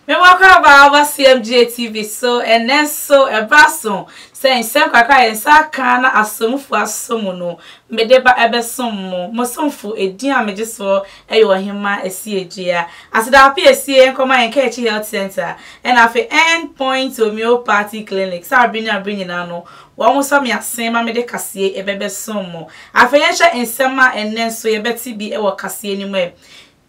Mewakaba aba CMGA TV so ɛnɛ nso ɛbra so sɛ nsɛm kakra yɛn nsa aka na asomfo aso mu no mede ba ɛbɛsom mo mo somfo edin a megye soɔ Ɛyɛ Ɔhemmaa Asie Gyea. Aseda Ape Asie nkɔma yɛn Kaakyi Health Centre ɛna afei End Point Homeopathy Clinic sɛ abere ne abere nyinaa no wɔn sɔ me asen ma mede kaseɛ ɛbɛ bɛsom mo. Afei yɛnhwɛ nsɛm a ɛnnɛ nso yɛbɛte bi wɔ kaseɛ no mu ɛ.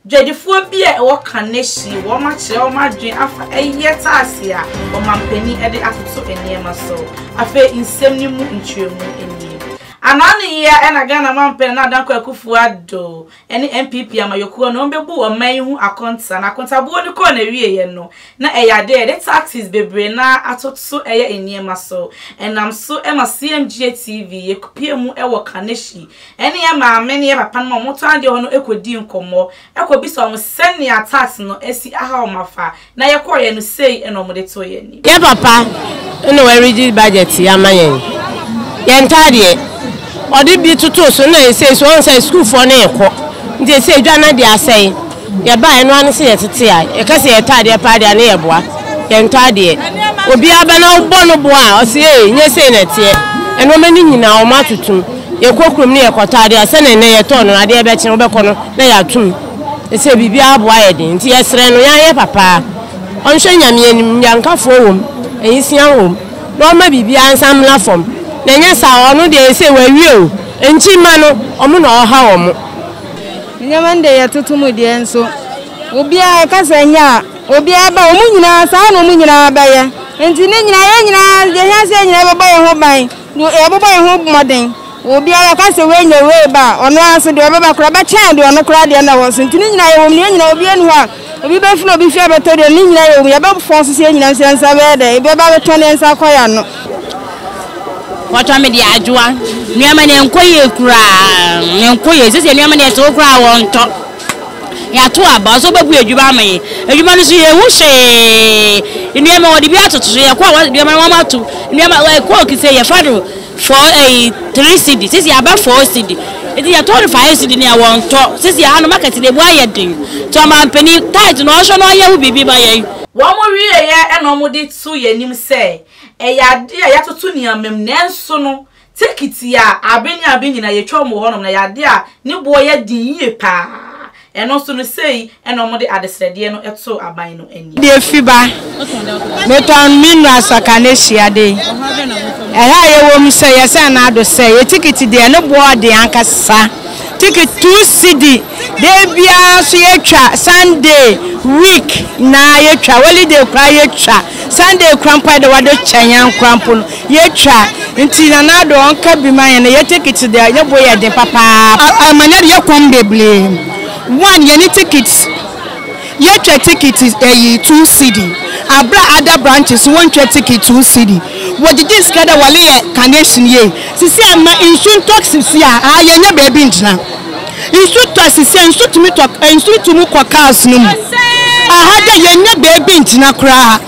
Dwadifoɔ bi a ɛwɔ Kaneshie wɔn akyerɛ wɔn adwene afa ɛyɛ taase a ɔmampanin ɛde atoto nneɛma so. Afei nsɛm no mu nkyerɛmu nie. Anaa ne yea ɛna Ghana Mampanin Nana Adankwa Akufo Addo. ne NPP amanyɔkuo no wɔbɛbuu ɔman yi ho akonta, na akontabuo no kɔɔ n'awieɛ no, na ɛyɛ adeɛ a yɛde tactics bebree no ara atoto yɛ nneɛma so. Ɛnam so ma CMGA TV yɛkɔpuee mu wɔ Kaneshie ne yɛn maame ne yɛn papa nom a wɔtɔn adeɛ hɔ no kɔdii nkɔmmɔ, kɔbisaa wɔn sɛnea tax no asi ahaw wɔn afa. Na yɛkɔeɛ no, sei na wɔde too yɛn anim. Yɛn papa na ɔaredi budget yi ama yɛn. Yɛn ntaadeɛ, ɔde bi totoo so na ɛsei nso ɔhu sɛ sukuufoɔ no rekɔ. Nti ɛsei dwa no ade asɛe. Yɛbaeɛ no ara ne sɛ yɛtete a, yɛka sɛ yɛn ntaadeɛ paa deɛ a ne yɛboa. Yɛn ntaadeɛ, obiara ba na wobɔ no boa a, ɔse ee, nyɛ sei na ɛteɛ. Nnoɔma no nyinaa wɔatotom. Yɛkɔ kurom no yɛkɔtɔ adeɛ a, sɛdeɛ nnɛ yɛtɔɔ no, adeɛ rebɛkye no wobɛkɔ no na yɛatom. Sɛ biribiara aboa ayɛ den nti yɛsrɛ no yɛanyɛ papa a ɔnhwɛ Nyame anim, nnyankafoɔ wom, ayisua wom na ɔmma biribiara nsan mmra fam na ɛnyɛ saa a ɔno deɛ sei wawie o, nti mma no ɔmo na ɔha wɔn. Nneɛma no deɛ yɛtoto mu deɛ nso obiara ɛka sɛ ɛnyɛ a obiara ba wɔn nyinaa saa na wɔn nyinaa bɛyɛ nti ne nyinaa yɛn nyinaa deɛ hia sɛ yɛn nyinaa bɛbɔ yɛn ho ban Deɛ ɔbɛbɔ ne ho mmɔden wɔ obiara a ɔka sɛ wei nyɛ wei ba a, ɔno ara nso deɛ ɔbɛba koraa bɛkyɛn deɛ ɔno koraa deɛ na ɛwɔ so. Nti ne nyinaa yɛwɔ mu, yɛn nyinaa obiara nni hɔ a obi bɛfiri obi fie abɛtɔ deɛ no, ne nyinaa yɛwɔ mu, yɛbɛfɔn so sɛ yɛn nyinaa nso yɛn nsa bɛyɛ dɛ, ebi bɛba abɛtɔn na yɛn nsa akɔ yɛn ano. Wɔtɔ me deɛ adwoa. Nneɛma no ɛnkɔ yie koraa, ɛnkɔ yie. Seesei nneɛma no ɛtew koraa a wɔntɔ. Yɛato aba. Ɔsɛ ɔbɛbue adwuma ama yɛn. Adwuma no nso, yɛnhu hwee. Nneɛma, wɔde bi atoto so. Yɛkɔ a, wɔn nneɛma no wɔama atom. Nneɛma, ɛ, Coke sei, yɛfa no four, ɛyi, three cedi. Seesei aba four cedi. Enti yɛtɔ no five cedi ne a, wɔntɔ. Seesei ha no, market no, emu ayɛ den. Nti ɔmanpanin, tithe no, ɔnhwɛ na ɔnyɛ ho biribi ma yɛn. Wɔwieeɛ na wɔde too yɛn anim sɛ, ɛyɛ adeɛ a yɛatoto nneɛma mu, nanso no, Turkey tiaa abe ne abe nyinaa, yɛtwa wɔn wɔ hɔnom, na ɛyɛ adeɛ a ne boɔ yɛ den yie pa ara, ɛno nso no sei na wɔde adesrɛdeɛ no too aban no anim. Deɛ fi ba. Metɔn me nnuro asɔka no ahyia de. Ɛha a yɛwɔ mu sɛ yɛsɛn no ado sɛ yɛ tikiti deɛ ne boɔ den ankasa. Tikiti two cedi da biara nso yɛtwa Sunday week nyinaa yɛtwa holiday koraa yɛtwa Sunday koraa mpo a yɛde wɔde kyɛ yɛn koraa mpo no Yɛtwa nti Nana Addo ɔnka bi ma yɛn na yɛn tickets deɛ ne bo yɛ den papaapa. Amanneɛ deɛ ɛkɔm bebree one yɛne tickets yɛtwa ticket ɛyi two cedi aberɛ a other branches so wɔntwa ticket two cedi wɔgyegye sika dɛ wɔleyɛ carnation yie sisi a ma nsu ntɔk sisi a aa yɛnya baabi ngyina nsu tɔ sisi a nsu tumi tɔ nsu tumi kɔ cars no mu aha dɛ yɛnya baabi ngyina koraa.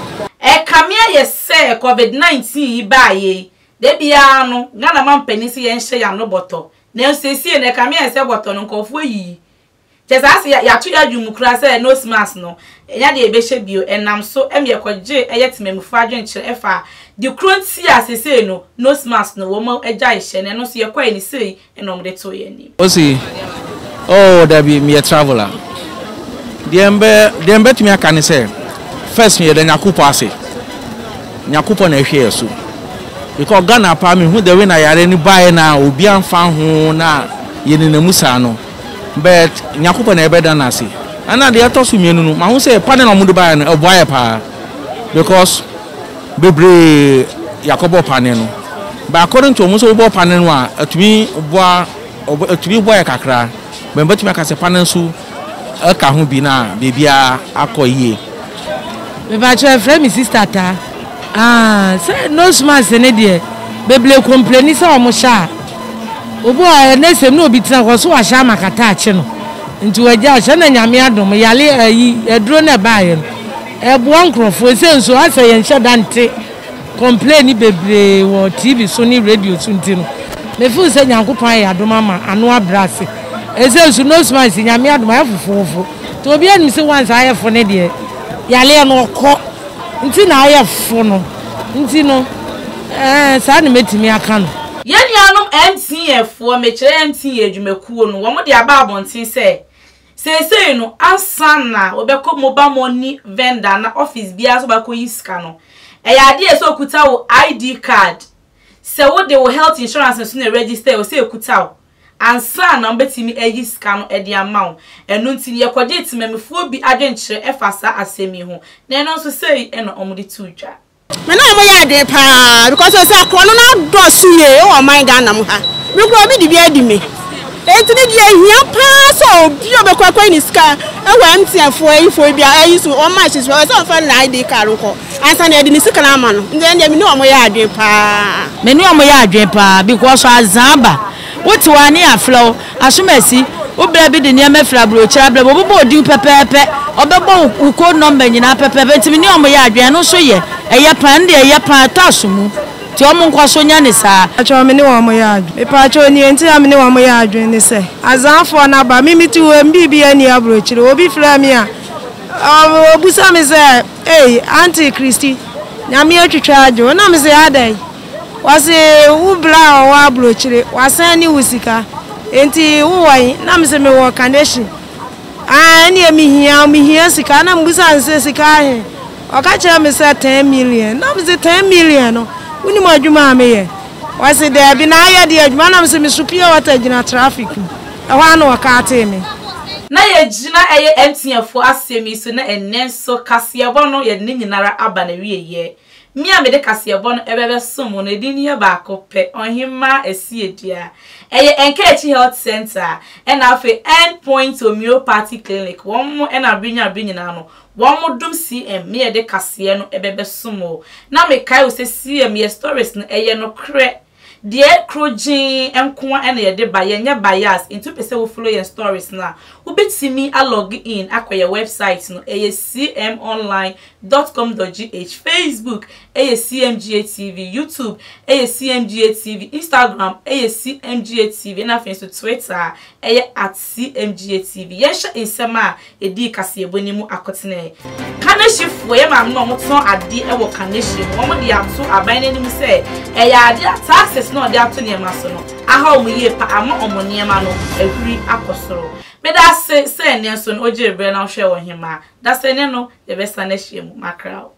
Ɛkame ayɛ Sɛ covid nineteen yi baeɛ yi, da biara no Ghana mampanin se yɛnhyɛ yɛn ano bɔtɔ, nanso seesei no ɛkame ayɛ sɛ bɔtɔ no nkurɔfoɔ ayiyi. Kyerɛ sɛ ase yɛato yɛn adwene mu koraa sɛ nose mask no, ɛnyɛ adeɛ a yɛbɛhyɛ bio. Ɛnam so ma yɛkɔgye ɛyɛ temammufoɔ adwenkyerɛ ɛfa de korɔ nti a seesei no nose mask no wɔagyae hyɛ no, ɛno nso yɛkɔe no sei na wɔn de too yɛn anim. Ɔsi, Oh, dabi, meyɛ traveller. Deɛ mbɛ, deɛ mbɛtumi aka ne sɛ, first yɛda Nyakopɔ ase. Nyakopɔ na ɛhwɛ yɛn so. Because Ghana paa mehu the way na yare no baeɛ na obi anfa ho na yɛnena mu saa no. But Nyakopɔ na yɛbɛda no ase. Ɛna deɛ ɛtɔ so mmienu no, mahu sɛ panel a wɔn de baeɛ no ɛboa yɛ paa because. bebree yɛakɔbɔ panne no. But according to wɔn sɛ wobɔ panne no a atumi boa atumi boa yɛ kakra bɛn bɛtumi aka sɛ panne nso ɛka ho bi na biribiara akɔ yie. Mepakyɛ frɛ me sister ta. Aah sɛ nose mask ne deɛ bebree kompleni sɛ wɔn hyɛ a obi wɔ hɔ ɛnɛ sɛ ne obi tena hɔ so wahyɛ ama kata akye no nti wagya hyɛ na nyame adom yale ayi aduro no ɛbaayɛ no Ɛboa nkorɔfoɔ. Ɛsei nso asɛ yɛn hyɛ da nte complain bebree wɔ TV so ne radio so nti no me feel sɛ Nyankopɔn ayɛ adom ama ano abrɛ ase. Ɛsei nso nose mask Nyame adom ayɛ fofofo nti obiara nim sɛ once ayɛ fo ne deɛ yareɛ no ɔkɔ nti na ayɛ fo no nti no ɛɛn saa na mɛtumi aka no. Yɛn nuanom MTN foɔ, mekyerɛ MTN adwumakuo no, wɔn de aba abɔnten sɛ Seesei no, ansa na wobɛkɔ mobile money vendor anaa office biara sɛ wobɛakɔyi sika no, ɛyɛ adeɛ a ɛsɛ sɛ wokuta wo ID card. Sɛ wode wo health insurance nso na ɛregister a, ɛwɔ sɛ ɛkuta wo ansa na wɔbɛtumi ayi sika no de ama wo. Ɛno nti no, yɛkɔgyee temammufoɔ bi adwenkyerɛ faa saa asɛm yi ho, na ɛno nso sei na wɔde too dwa. Me ne ɔmo yɛ adwene paa because ɔsɛ akorɔ no n'adɔso yie ɛwɔ ɔman Ghana mu ha me kura obi de bi adi me eti ne deɛ hia paa sɛ obi ɔbɛ kɔ akɔ yi ne sika ɛwɔ MTN foɔ ɛyi foɔ bi a ɛyi so wɔn ma ɛhyɛ so ɛwɔ sɛ ɔfa ne na ID card nkɔ ansa na ɛde ne sika na ama no nti ɛn deɛ me ne ɔmo yɛ adwene paa. Me ne ɔmo yɛ adwene paa because azan aba wote hɔ a ne yɛ afrɛ wo Asomasi, Wo bra bi de nneɛma firi aburokyire abrɛ me. Wɔbobɔ wo din pɛpɛɛpɛ. Wɔbɛbɔ wo wo code number nyinaa pɛpɛɛpɛ. Nti me ne wɔn yɛ adwene. Ɛno nso yɛ. Ɛyɛ paa. Ɛno deɛ ɛyɛ paa. Ɛtɔ asomu. Nti wɔn nkɔ so nyɛ no saa. Mpakyɛw, me ne wɔn yɛ adwene. Mepakyɛw, nea nti a me ne wɔn yɛ adwene ne sɛ, Azanfoɔ no aba. Me mete hɔ yi, me biribiara nni aburokyire. Obi frɛ me a, ɔbisa me sɛ, Ei, Auntie Christy, Nyame atwitwa agye wo. Na mese, Adɛn? Ɔse wo bra a ɔwɔ abrokyire wasan ne wo sika nti wo wɔ he na mese me wɔ kanehye aa ɛneɛ me hia wo me hia sika na mebisa no sɛ sika he ɔka kyerɛ me sɛ ten million na mese ten million no wo nim adwuma a me yɛ ɔse daabi na ayɛ deɛ adwuma na mese me so pure water gyina traffic mu ɛhɔ a na ɔkaatee me. Na yɛ gyina ɛyɛ MTN foɔ asɛm yi so na ɛnɛ nso kaseɛbɔ no yɛde ne nyinara aba na wieɛ Me a mede kaseɛbɔ no bɛbɛsom wo no, edin no yɛ baako pɛ, Ɔhemmaa Asiedua. Ɛyɛ Nkaakyi Health Centre ɛna afei End Point Homeopathy Clinic. Wɔn na bere nyinaa bere nyinaa no, wɔn dom CM, me a ɛde kaseɛ no bɛbɛsom wo. Na mekae wo sɛ CM, yɛ stories no, ɛyɛ nokorɛ. Deɛ kro gyee nkoa na yɛde ba, yɛnyɛ bias, nti wopɛ sɛ wo follow yɛn stories no a, wobɛtumi a log in akɔ yɛn website no, ɛyɛ cmonline dot com dot gh, Facebook ɛyɛ cmga TV, YouTube ɛyɛ cmga TV, Instagram ɛyɛ cmga TV, ɛna afei nso Twitter a ɛyɛ at cmga TV. Yɛnhyɛ nsɛm a edii kaseɛbɔ no mu akotene. Kanehyefoɔ yɛ maame na wɔtɔn adeɛ wɔ Kanehye no, wɔde ato aban no anim sɛ ɛyɛ adeɛ a taxes no a wɔde ato nneɛma so no aha wɔn yie pa ama wɔn nneɛma no ahuri akɔ soro. Meda ase sɛ ɛnnɛ nso no wogyee berɛ na wohwɛɛ Ɔhemmaa. Dasani no, yɛbɛsane ahyia mu. Mackerel.